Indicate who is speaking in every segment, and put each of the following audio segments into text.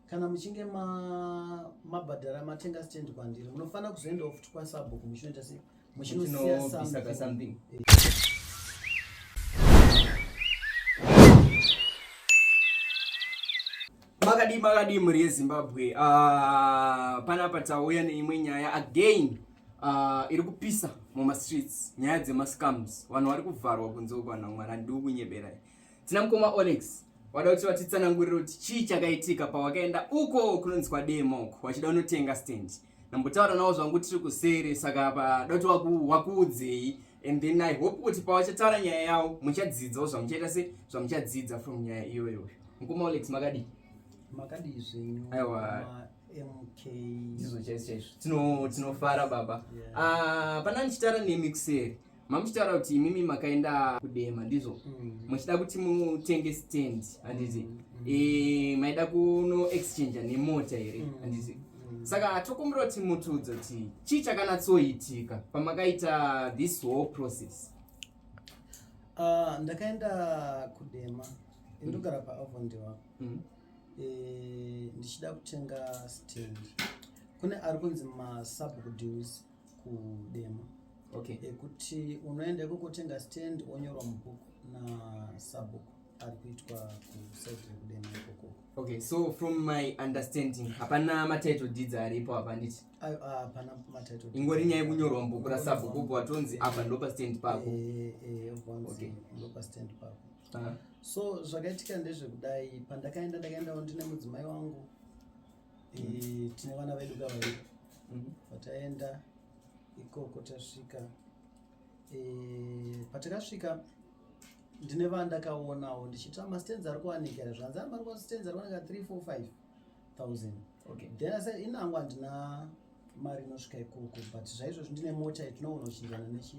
Speaker 1: kana muchinge mabhadhara ma matenga stand kwandiri munofanira kuzoendawo futi kwasabhuku muchinoita sei muchinosiya something
Speaker 2: makadii makadii mhuri yezimbabwe uh, panapa tauya neimwe nyaya again Uh, iri kupisa mumastreets nyaya dzemascams vanhu vari kuvharwa kunze uko vanhu mwari handiwo kunyeberai tina mukoma olex wada kuti vatitsanangurire kuti chii chakaitika pawakaenda uko kunonzi kwademo uko wachida unotenga stand nambotaura nawo zvangu tiri kuseri saka pada kuti wakuudzei and then i hope kuti pawachataura nyaya yawo muchadzidzawo zvamuchaita se zvamuchadzidza from nyaya iyoyo mukoma olex makadii makadii
Speaker 1: zvenyu aiwa ndizvo
Speaker 2: chaizvo chaizvo tinofara baba ah, pana ndichitaura nemi kuseri mamuchitaura kuti imimi makaenda kudema ndizvo mm. muchida kuti mutenge stand handiti mm. eh, maida kuno exchange nemota here mm. handiti saka tokumbira kuti mutiudze kuti chii chakanatsoitika pamakaita this whole process ah,
Speaker 1: ndakaenda kudema indogara paavondiwa eh, ndichida kutenga stand kune ari kunzi masubdeals kudema okay.
Speaker 2: ekuti
Speaker 1: unoenda ikokotenga stand onyorwa mubhuku nasabhuku ari kuitwa kusaidi rekudema ikoko okay so from
Speaker 2: my understanding hapana matitle deeds aripo hapa handiti hapana
Speaker 1: matitle ingori nyaya yekunyorwa mubhuku
Speaker 2: rasabhuku ubva watonzi apa ndopa stand pako eh, eh, okay.
Speaker 1: ndopa stand pako ah. so zvakaitika ndezvekudai pandakaenda ndakaendawo ndine mudzimai wangu mm. tine vana vedu kavairi mm. pataenda ikoko tasvika e, patakasvika ndine vandakaonawo ndichiti mastenzi ari kuwanika here zvanzi ari kuwanika 3 4 5 1000 okay then
Speaker 2: i said inangu
Speaker 1: andina mari inosvika ikoko but zvaizvozvi ndine mota itinogona kuchinjana nechi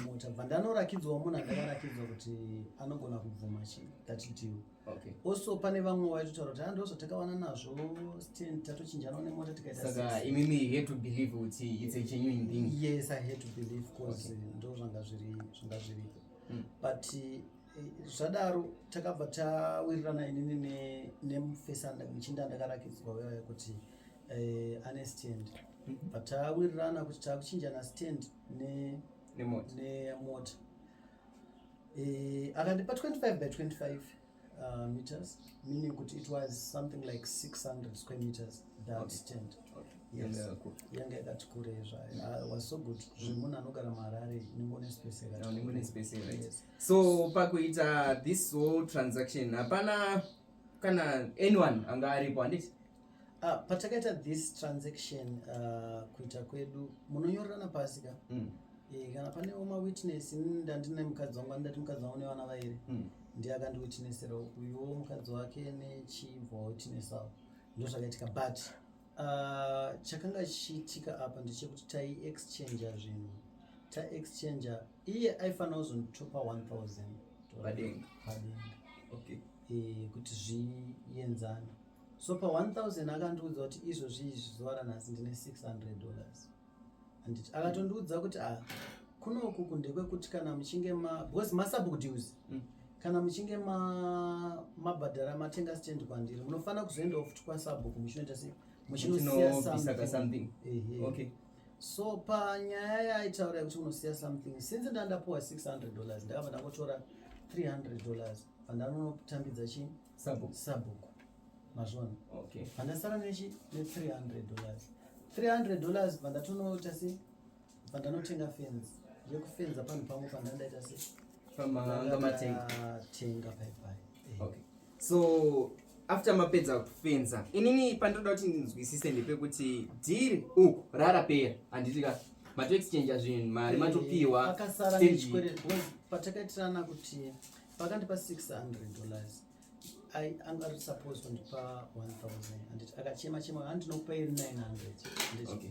Speaker 1: mota bva ndanorakidzwa munhu andakarakidzwa kuti anogona kubvuma chi tatidiwo okay also
Speaker 2: pane vamwe
Speaker 1: waitotaura kuti ando ah, zvatakawana nazvo stand tatochinjana nemota tikaita imimi you had to
Speaker 2: believe kuti it's a genuine thing yes i had to believe
Speaker 1: because okay. ndo zvanga zviri zvanga zviripo mm. but zvadaro takabva tawirirana inini nemufesanda muchinda ndakarakidzwa uyaya kuti eh, ane stand mhm. but tawirirana kuti takuchinjana stand nemota eh, akandipa 25 by 25 uh, meters meaning kuti it was something like 600 square meters that okay. stand yanga yakati kure zvayo was so good zvemunhu anogara maharare ningonespace yakati
Speaker 2: so pakuita this whole transaction hapana kana anyone anga aripo handiti ah, patakaita
Speaker 1: this transaction ah, kuita kwedu munonyorerana pasi ka hmm. eh, kana pane oma witness ndandine mukadzi wangu andati mukadzi wangu nevana vairi hmm. ndiye akandiwitnessera uyuwo mukadzi wake nechibva wawitness avo ndozvakaitika but ah, chakanga chichiitika apa ndechekuti taiexchanger zvinhu taexchanger iye aifanira kuzondichopa 1000 padenga
Speaker 2: padenga
Speaker 1: okay eh kuti zvienzane so pa 1000 akandiudza kuti izvozvi izvi zuva ranhasi ndine 600 dollars anditi akatondiudza kuti ah kunoku kundekwekuti kana muchinge ma because masubdues mm. kana muchinge ma mabhadhara matenga stand kwandiri munofanira kuzoendawo futi kwasabhuku muchinoita sei muchinosiya something
Speaker 2: ehe okay. so
Speaker 1: panyaya yaitaura yekuti unosiya something since ndandapuwa 600 dollars ndakabva ndangotora 300 dollars pandanonotambidza chi sabhuku sabhuku mazvona okay pandasara
Speaker 2: nechi
Speaker 1: ne 300 dollars 300 dollars pandatonoita se pandanotenga fence yekufenza panhu pangu pandandaita se pamanga matenga tenga pai pai eh. okay
Speaker 2: so after mapedza kufenza inini pandinoda kuti ndinzwisise ndepekuti dhiri u uh, rarapera handiti ka matoexchangea zvinhu mari eh, matopiwa
Speaker 1: patakaitirana kuti pakandipa 600 dollars anga ari supposed kundipa 1000 handiti akachema chema handinokupai 900 handiti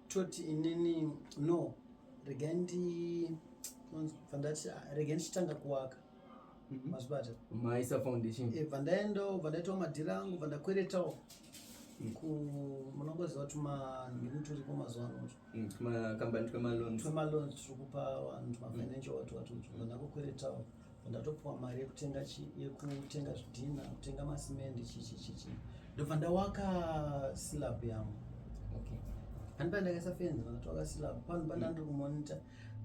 Speaker 1: toti inini no regai ndi vandati ah, regai ndichitanga kuwaka mhm. mazvibata maisa
Speaker 2: foundation eh, vandaendawo vandaitawo
Speaker 1: madhiri angu vandakweretawo mm. munongoziva kuti manhiri turiko mazuva ano mm, tmakambani
Speaker 2: twemaloans twemaloans
Speaker 1: tiri kupa vanhu tmafinancial mm. watu watu vandakokweretawo ndatopiwa mari yekutenga yekutenga zvidhina kutenga masimende chichi chichi ndobva ndawaka silab yangu okay ani paa ndakasafenza ndakatoaka silab pano pa ndandiri kumonita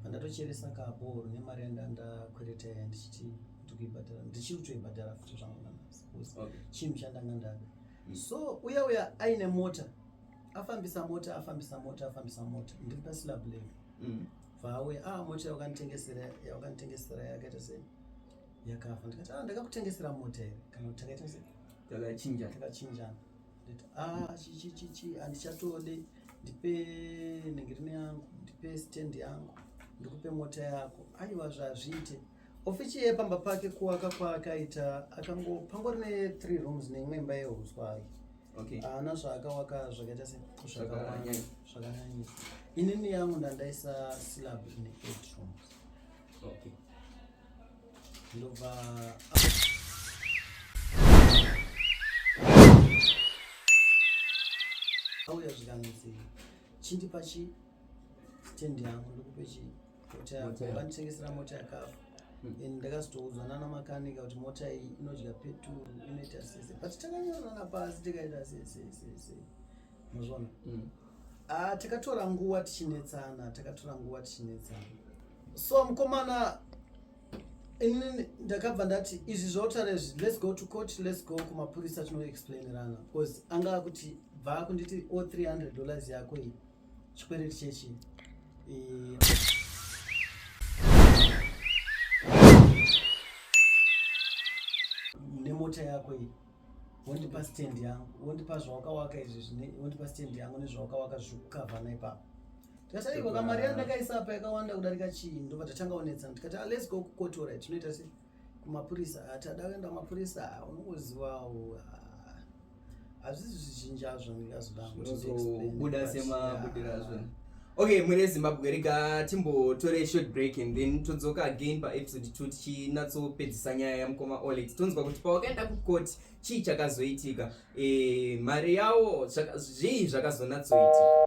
Speaker 1: pandatocheresa kaboro nemari yandandakwereta yaya ndichiti ndikuibhadhara ndichiri kutoibhadhara futi zvangu nanasi bcause chinhu chandanga ndada mm. so uya uya aine mota afambisa mota afambisa mota afambisa mota ndiri pasilab level mm. vauya ah mota yawakanitengesera yawakanitengesera yakaita sei yakafa ndikati ah ndakakutengesera mota here kana kuti takaita sei takachinja takachinjana nditi ah chichichichi handichatode ndipe nenge rine yangu ndipe stand yangu ndikupe mota yako aiwa zvazviite ofichi yepamba pake kuwaka kwaakaita akango pangori ne three rooms neimwe imba yehuswa hake okay haana zvaakawaka zvakaita se zvakanyanyisa inini yangu ndandaisa slab in eight rooms okay ndobva auya zvikanzi chindipa chi tendi yangu ndokupe chii vandisengesera mota yakafa hmm. and ndakazotoudzwa nana makanika kuti mota iyi inodya peturu inoita sese but takanyorana pasi tikaita sesesese mazvona hmm. ah, takatora nguva tichinetsana takatora nguva tichinetsana so mukomana inini ndakabva ndati izvi zvautaura izvi let's go to court let's go kumapurisa tinoexplainerana because anga akuti bva akunditi o 300 dollars yako iyi Chikwereti chechi. Nemota yako iyi wondipa stand yangu wondipa zvawakawaka izvi zvine wondipa stand yangu nezvawakawaka zviri kukavha naipapo tikati aiko kamari yandakaisa apa yakawanda kudarika chii ndobva tatanga onetsana tikati ah, let's go kukotora tinoita sei kumapurisa ati ada kuenda mapurisa unongozivawo hazvisi zvizhinji azvo ndikazodabuda
Speaker 2: semabudira azvo okay mwene zimbabwe rega timbotore short break and then todzoka again paepisode 2 tichinatsopedzisa nyaya yamukoma olex tonzwa kuti pawakaenda kucourt chii chakazoitika e, mari yawo zvii zvakazonatsoitika